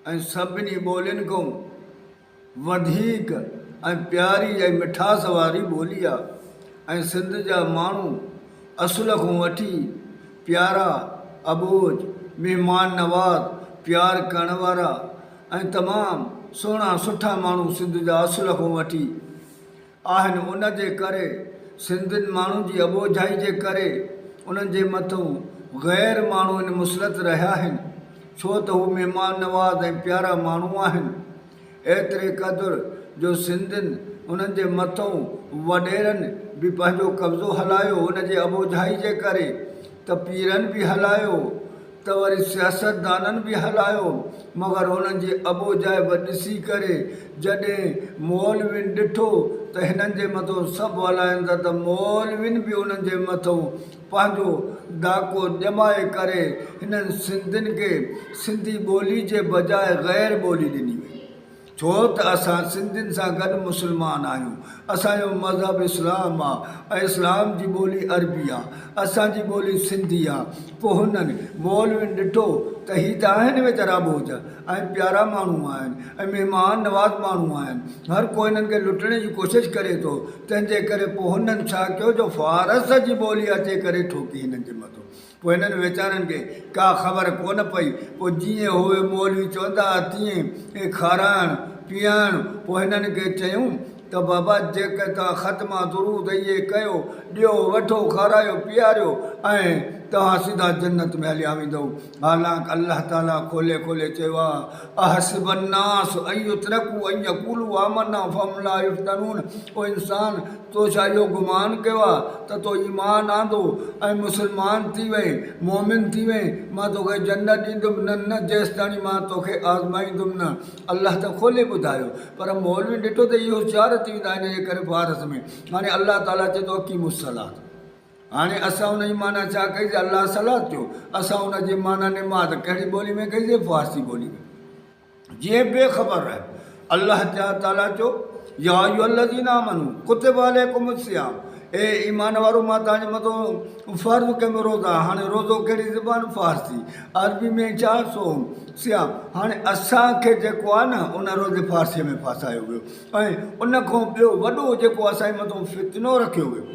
۽ سڀني ٻولين کان وڌيڪ ۽ پياري ۽ مٺاس واري ٻولي آ ۽ سنڌ جا ماڻهو اصل کان وٺي پيارا اٻوجھ مھمان نواز پيار ڪرڻ وارا ۽ تمام سهڻا سٺا ماڻهو سنڌ جا اصل کان وٺي آهن ان جي ڪري سندن ماڻهن جي اٻوجهائي جي ڪري انهن جي مٿون غير ماڻهو ان مسلط رهيا آهن ڇو ته هو مهمان نواز ۽ پيارا ماڻهو آهن ايتري قدر جو سندن انهن جي مٿون وڏيرن به پنهنجو قبضو هلايو ان جي اٻوجهائي جي ڪري ته پيرن به هلايو ته وري سياستدانن به هلايو مگر هنن جي ابوجايب ڏسي ڪري جڏهن مولوين ڏٺو ته هنن جي مٿئون سڀ هلائن ٿا ته مولوين به هنن جي مٿئون پنهنجو ڏاڪو ڄمائي ڪري هنن سنڌين کي سنڌي ٻولي جي بجاء غير ٻولي ڏني وئي ڇو ته اسان سنڌين سان گڏ مسلمان آهيون، اسان جو مذهب اسلام آ ۽ اسلام جي ٻولي عربي آ، اسان جي ٻولي سنڌي آ، پوء هنن مولوين ڏٺو ته هي ته آهن ويچارا ٻوجهه ۽ پيارا ماڻهو آهن ۽ مهمان نواز ماڻهو آهن، هر ڪو هنن کي لٽڻي جي ڪوشش ڪري ٿو، تنهن جي ڪري پوء هنن ڇا ڪيو جو فارس جي ٻولي اچي ڪري ٺوڪي هنن جي مٿو. پوء هنن ويچارن کي ڪا خبر ڪونه پئي. پوء جيئن اهي مولوي چوندا ها تيئن ئي کارائڻ پيئائڻ. پوء هنن کي چيون ته بابا جيڪر توهان ختمه درود اهي ڪيو، ڏيو وٺو کارايو پيئاريو ۽ توهان سڌا جنت ۾ هليا ويندؤ. حالانڪ الله تعاليٰ کولي کولي چيو آهي، احسب الناس ان يترڪوا ان يقولوا آمنا فهم لا يفتنون او انسان! تو ڇا اهو گمان ڪيو آهي ته تو ايمان آندو ۽ مسلمان ٿي وئين، مؤمن ٿي وئين، مان توکي جنت ڏيندم، نه نه جيستاڻي مان توکي آزمائيندم نه. الله ته کولي ٻڌايو پر مولوين ڏٺو ته هي هوشيار ٿي ويندا ان جي ڪري فارس ۾ هاڻي الله تعالي چئي ٿو اقيموا الصلات هاڻي اسان ان جي معنيٰ ڇا ڪئيسي الله صلات چيو اسان ان جي معنيٰ نماز ڪهڙي ٻولي ۾ ڪئيسي فارسي ٻولي ۾. جيئن بي خبر رهيو. الله تعالي چيو، يا ايها الذين آمنو ڪتب عليکم الصيام اي ايمان وارو مان توهان جي مٿان فرض ڪيم روزا هاڻي روزو ڪهڙي زبان فارسي عربي ۾ ڇا صوم صيام هاڻي اسان کي جيڪو آهي نه ان روزي فارسي ۾ ڦاسايو ويو ۽ ان کان ٻيو وڏو جيڪو اسان جي مٿان فتنو رکيو ويو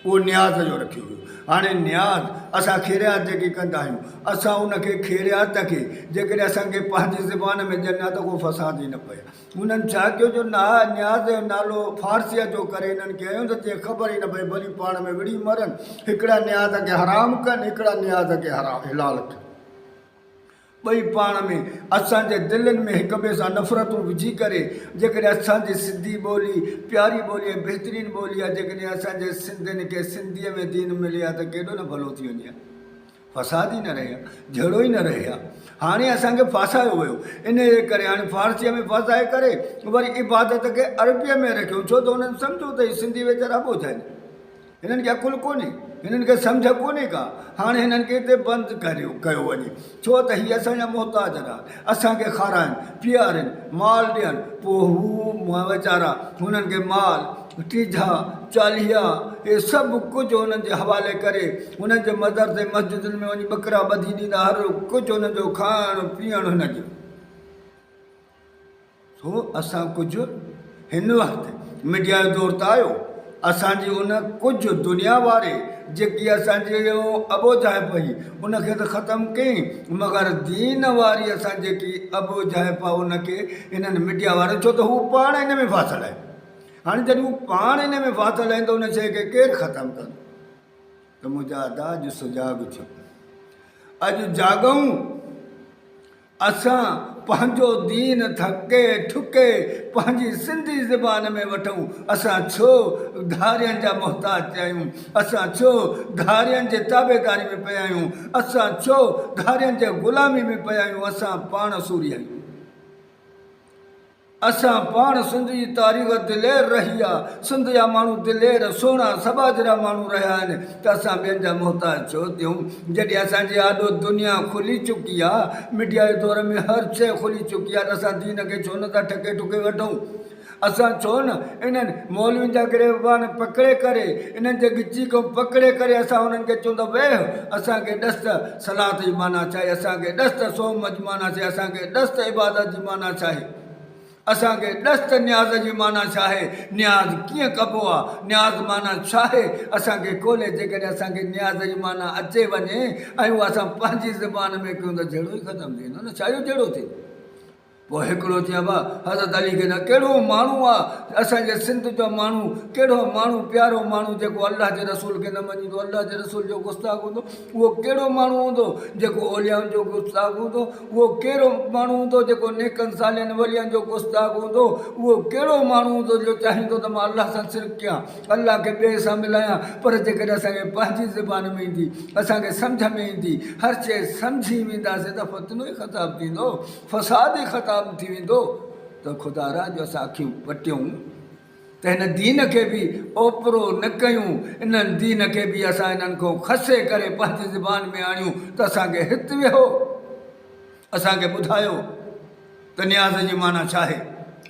اهو نياز جو رکيو ويو. هاڻي نياز اسان خيريات جيڪي ڪندا آهيون، اسان ان کي خيريات کي جيڪڏهن اسان کي پنهنجي زبان ۾ ڏين ها ته ڪو فساد ئي نه پئي ها. هنن ڇا ڪيو جو نياز جو نالو فارسيت جو ڪري هنن کي هنيو ته جيئن خبر ئي نه پئي ڀلي پاڻ ۾ وڙهي مرن. هڪڙا نياز کي حرام ڪن، هڪڙا نياز کي حلال ڪن. ٻئي پاڻ ۾، اسان جي دلين ۾ هڪ ٻئي سان نفرتون وجهي ڪري، جيڪڏهن اسان جي سنڌي ٻولي، پياري ٻولي ۽ بهترين ٻولي آهي، جيڪڏهن اسان جي سنڌين کي سنڌيء ۾ دين ملي ها ته ڪيڏو نه ڀلو ٿي وڃي ها. فساد ئي نه رهي ها، جهيڙو ئي نه رهي ها. هاڻي اسان کي ڦاسايو ويو، انهيء جي ڪري هاڻي فارسيء ۾ ڦاسائي ڪري، وري عبادت کي عربيء ۾ رکيون، ڇو ته انهن سمجهيو ته هي سنڌي ويچارا ٻوجهه آهن. هنن کي عقل ڪونهي، هنن کي سمجهه ڪونهي ڪا، هاڻي هنن کي هتي بند ڪيو وڃي، ڇو ته هي اسان جا محتاج آهن، اسان کي کارائن، پيئارين، مال ڏين، پوء هو ويچارا هنن کي مال، ٽيجها، چاليها، اهي سڀ ڪجهه هنن جي حوالي ڪري، هنن جي مدرسي مسجدن ۾ وڃي ٻڪرا ٻڌي ڏيندا، هر ڪجهه هنن جو کائڻ پيئڻ هنن جو. سو اسان ڪجهه هن وقت ميڊيا جو دور ته آيو اسان جي ان ڪجهه دنيا واري جيڪي اسان جي ابوجهه پئي ان کي ته ختم ڪئي مگر دين واري اسان جيڪي ابوجهه پئي ان کي انهن ميڊيا واري ڇو ته هو پاڻ ان ۾ ڦاسل آهي هاڻي جڏهن هو پاڻ ان ۾ ڦاسل آهن ته ان شيء کي ڪير ختم ڪندو ته منهنجا ادا اڄ سجاڳ ٿيو اڄ جاڳون اسان پنهنجو دين ٿڪي ٺڪي پنهنجي سنڌي زبان ۾ وٺون، اسان ڇو ڌارين جا محتاج پيا آهيون، اسان ڇو ڌارين جي تابعداري ۾ پيا آهيون، اسان ڇو ڌارين جي غلامي ۾ پيا آهيون، اسان پاڻ سورهيه آهيون. اسان پاڻ سنڌ جي تاريخ دلير رهي آ سنڌ جا ماڻهو دلير سهڻا سٻاجهرا ماڻهو رهيا آهن ته اسان ٻين جا محتاج ڇو ٿيون جڏهن اسان جي آڏو دنيا کلي چڪي آ ميڊيا جي دور ۾ هر شئي کلي چڪي آ ته اسان دين کي ڇو نه ٿا ٺڪي ٺڪي وٺون اسان ڇو نه انهن مولوين جا گريبان پڪڙي ڪري انهن جي ڳچي کان پڪڙي ڪري اسان انهن کي چون ته ويهه اسان کي ڏس ته صلات جي معنيٰ ڇاهي؟ اسان کي ڏس ته صوم جي معنيٰ ڇاهي؟ اسان کي ڏس ته عبادت جي معنيٰ ڇاهي؟ اسان کي ڏس ته نياز جي معنيٰ ڇاهي؟ نياز ڪيئن ڪبو آهي؟ نياز معنيٰ ڇاهي؟ اسان کي کولي جيڪڏهن اسان کي نياز جي معنيٰ اچي وڃي ۽ اهو اسان پنهنجي زبان ۾ ڪيون ته جهيڙو ئي ختم ٿي ويندو نه ڇا اهو جهيڙو ٿيندو؟ پوء هڪڙو چيائين واهه حضرت علي کي نه ڪهڙو ماڻهو آ اسان جي سنڌ جو ماڻهو ڪهڙو ماڻهو پيارو ماڻهو جيڪو الله جي رسول کي نه مڃيندو الله جي رسول جو گستاخ هوندو اهو ڪهڙو ماڻهو هوندو جيڪو اوليائن جو گستاخ هوندو اهو ڪهڙو ماڻهو هوندو جيڪو نيڪن صالحن ولين جو گستاخ هوندو اهو ڪهڙو ماڻهو هوندو جو چاهيندو ته مان الله سان شرڪ ڪيان الله کي ٻئي سان ملايان پر جيڪڏهن اسان کي پنهنجي زبان ۾ ايندي اسان کي سمجهه ۾ ايندي هر شيء سمجهي وينداسين ته فتنو ئي خطاب ٿيندو فساد ئي ختام ٿي ويندو ته خدا را جو اسان اکيون پٽيون ته هن دين کي به اوپرو نه ڪيون انهن دين کي به اسان انهن کان کسي ڪري پنهنجي زبان ۾ آڻيون ته اسان کي هت ويهو اسان کي ٻڌايو ته نياز جي معنيٰ ڇا آهي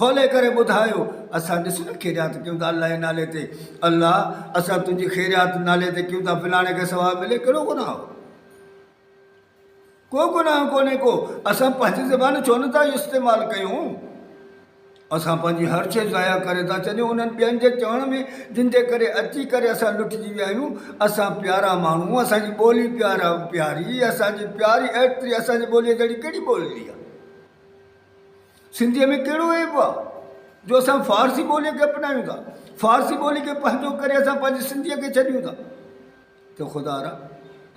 کولي ڪري ٻڌايو اسان ڏس نه خيريات ڪيون ٿا الله جي نالي تي الله اسان تنهنجي خيريات نالي تي ڪيون ٿا فلاڻي کي ثواب ملي ڪهڙو گناهه هو ڪو گناهه ڪونهي ڪو، اسان پنهنجي زبان ڇو نه ٿا استعمال ڪيون؟ اسان پنهنجي هر شيء ضايع ڪري ٿا ڇڏيون انهن ٻين جي چوڻ ۾ جن جي ڪري اچي ڪري اسان لٽجي ويا آهيون. اسان پيارا ماڻهو، اسان جي ٻولي پيارا پياري اسان جي پياري ايٽري اسان جي ٻوليء جهڙي ڪهڙي ٻولي آهي؟ سنڌيء ۾ ڪهڙو عيب آهي جو اسان فارسي ٻوليء کي اپنايون ٿا؟ فارسي ٻولي کي پنهنجو ڪري اسان پنهنجي سنڌيء کي ڇڏيون ٿا؟ ته خدا را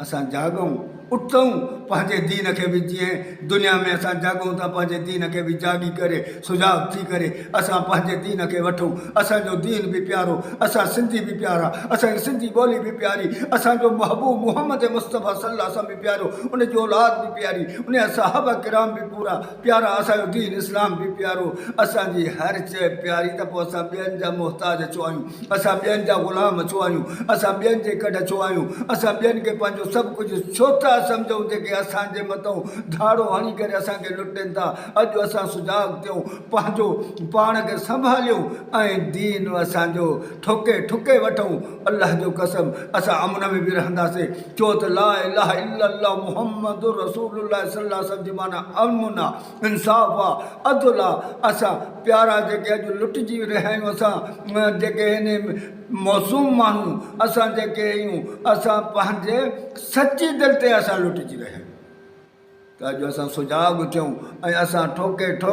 اسان جاڳئون، اٿئون، پنهنجي دين کي به جيئين، دنيا ۾ اسان جاڳئون ته پنهنجي دين کي به جاڳي ڪري، سجاڳ ٿي ڪري اسان پنهنجي دين کي وٺئون، اسان جو دين به پيارو، اسان سنڌي به پيارا، اسان جي سنڌي ٻولي به پياري، اسان جو محبوب محمد مصطفيٰ صلي الله وسلم به پيارو، ان جي اولاد به پياري، ان جا صحابه ڪرام به پورا. پيارا اسان جو دين اسلام به پيارو اسان جي هر شيء پياري ته پوء اسان ٻين جا محتاج ڇو آهيون اسان ٻين جا غلام ڇو آهيون اسان ٻين جي ڪڍ ڇو آهيون اسان ٻين کي پنهنجو سڀ ڪجهه ڇو ٿا سمجهون جيڪي اسان جي مٿئون ڌاڙو هڻي ڪري اسان کي لٽين ٿا اڄ اسان سجاڳ ٿيون پنهنجو پاڻ کي سنڀاليون ۽ دين اسان جو ٺوڪي ٺڪي وٺون الله جو قسم اسان امن ۾ به رهنداسين ڇو ته لا اله الا الله محمد رسول الله صلي الله عليه وسلم جي معنيٰ امن آ انصاف آ عدل آ اسان پيارا جيڪي اڄ لٽجي رهيا آهيون اسان جيڪي هن معصوم ماڻهو اسان جيڪي آهيون اسان پنهنجي سچي دل تي اسان لٽجي رهيا آهيون ته اڄ اسان سجاڳ ٿيون ۽ اسان ٺوڪي ٺوڪ